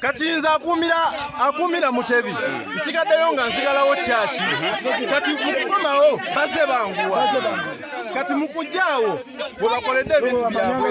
kati nze akuumira akuumira mutebi nsigaddeyo nga nsigalawo kyaki kati mukukomawo baze banguwa kati mukujjaawo bwe bakoledde ebintu byabwe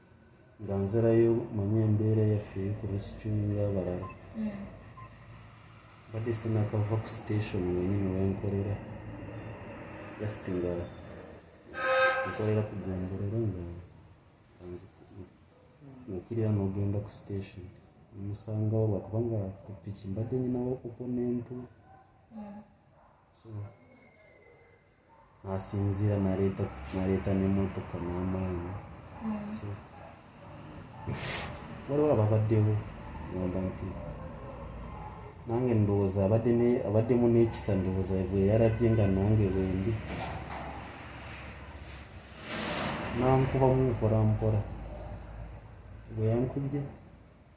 nga nzirayo manye embeera yaffe ku resituinga abalala hmm. badde sinakava ku station wenyini wenkolera just nga nkolera ku gombolero nga nokirira nogenda ku station omusangawo lwakubanga ku piki mbadde nyinawo okuko nentu hmm. so nasinzira naleeta naleeta nemotoka n'amaanyi so waliwo ababaddewo ngamba nti nange ndowooza abadde ne- abaddemu n'ekisa ndowooza bwe yalabye nga nange bwendi nankubamu mpola mpola bwe yankubye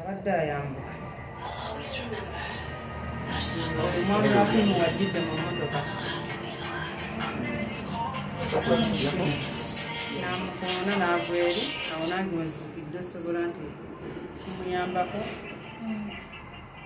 abadde ayambuka omwami wakumu wajjidde mu motoka namukoona naava eri awo nange wezukidde osobola nti kumuyambako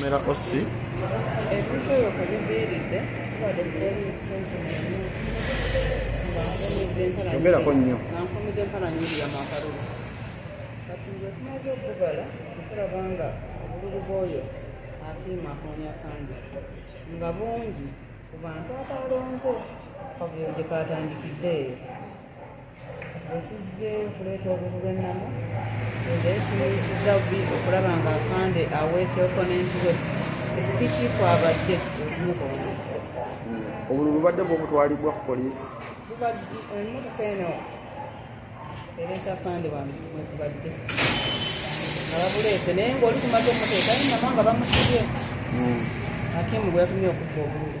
Mera Osi. Ebintu ebyo kwe biviiridde tubadde tukola ebisenso yogerako nnyo nankomidde empala nyingi yamakalulu kati bwe tumaze okugala okulaba nga obululu bwoyo akiima akonya kangi nga bungi ku bantu abalonze kavuyo gye katandikidde eyo otuzze okuleeta obulu bw'ennamu nze kimuyisiza bubi okulaba nga afande aweesa oponenti we piki kwabadde okumukoona obulu bubadde bwobutwalibwa ku poliisi emotoka eno ereesa afande wange mwekubadde nga babuleese naye ngaoli kumaze omuteeka naye namanga bamusibye hmm. akimu gweyatumye okubba obululu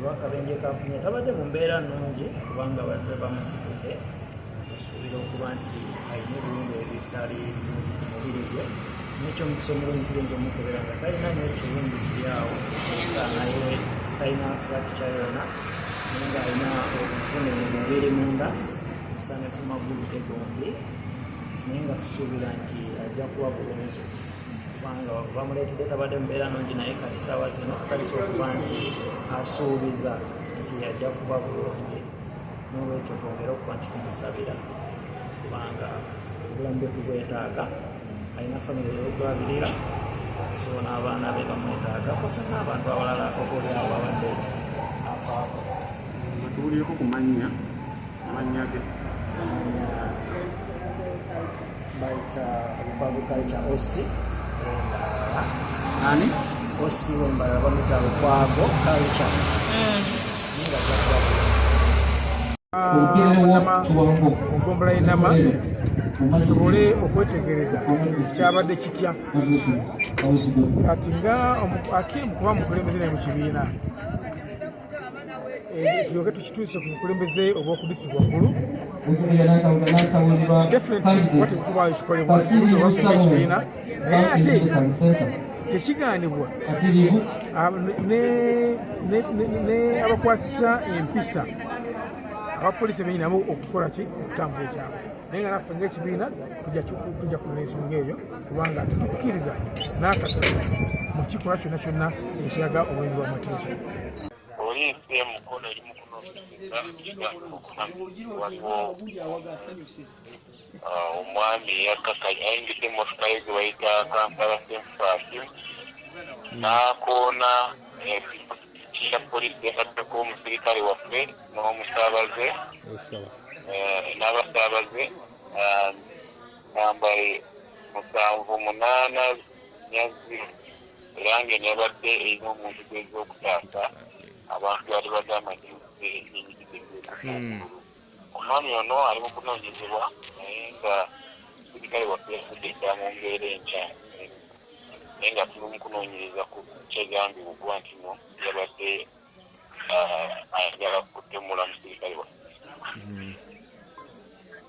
olwakabenje kafunye tabadde mu mbeera nnungi kubanga bazze bamusitudde okusuubira okuba nti alina ebiwundu ebitali mu mubiri gwe nekyo omukisa omulungi tuyinza omukubera nga talina nyo ekiwundu kiri awo naye talina frakitya yona naye nga alina obufune mu mubiri munda osaane ku magulu ge gombi naye nga tusuubira nti ajja kuba bulungi kubanga bamuleetedde tabadde mubeera nungi naye kati saawa zino akalisa okuba nti asuubiza nti yajja kuba bulungi nolwekyo twongere okuba nti tumusabira kubanga obulamu bwe tubwetaaga alina famire yokulabirira so n'abaana be bamwetaaga kosa n'abantu abalala okolyawo babadde afaako tuwulieko ku mannya amannya ge bayita agriculture oc ani oc wembala bamuyita lukwago culture ogombula enama tusobole okwetegereza kyabadde kitya kati nga akimu kuba mukulembeze naye mu kibiina ekirooke eh, tukituuse ku bukulembeze obw'oku disitulikiti waggulu definitewatekubayo kikolebwa waffe ekibiina naye ate tekigaanibwa ah, ne abakwasisa empisa abapoliisi ebenyinamu okukola ki okutambula ekyabwe naye nga naffe ngaekibiina tujja kulina ensonga eyo kubanga tetukkiriza n'akatono mu kikolwa kyonna kyonna ekiraga obwenzi bw'amateeka poliisi e mukono eri mu kunoonyereza omwami eyakakanya ayingidde emmotoka ye gye bayita kampala senfasi n'akoona ya poliisi yataddeko omusirikale waffe n'omusaabaze eh, n'abasaabaze ah, namba musanvu munaana nyazi era nga nebadde erina omuntu gweza okutaasa abantu bali bagamba nti omwami ono ali mu kunoonyezebwa naye nga sirikale waffe yafudde dda mu mbeera enkya naye nga tuli mu kunoonyereza ku kyegambibwa okuba nti no yabadde ayagala kutemula musirikale waffe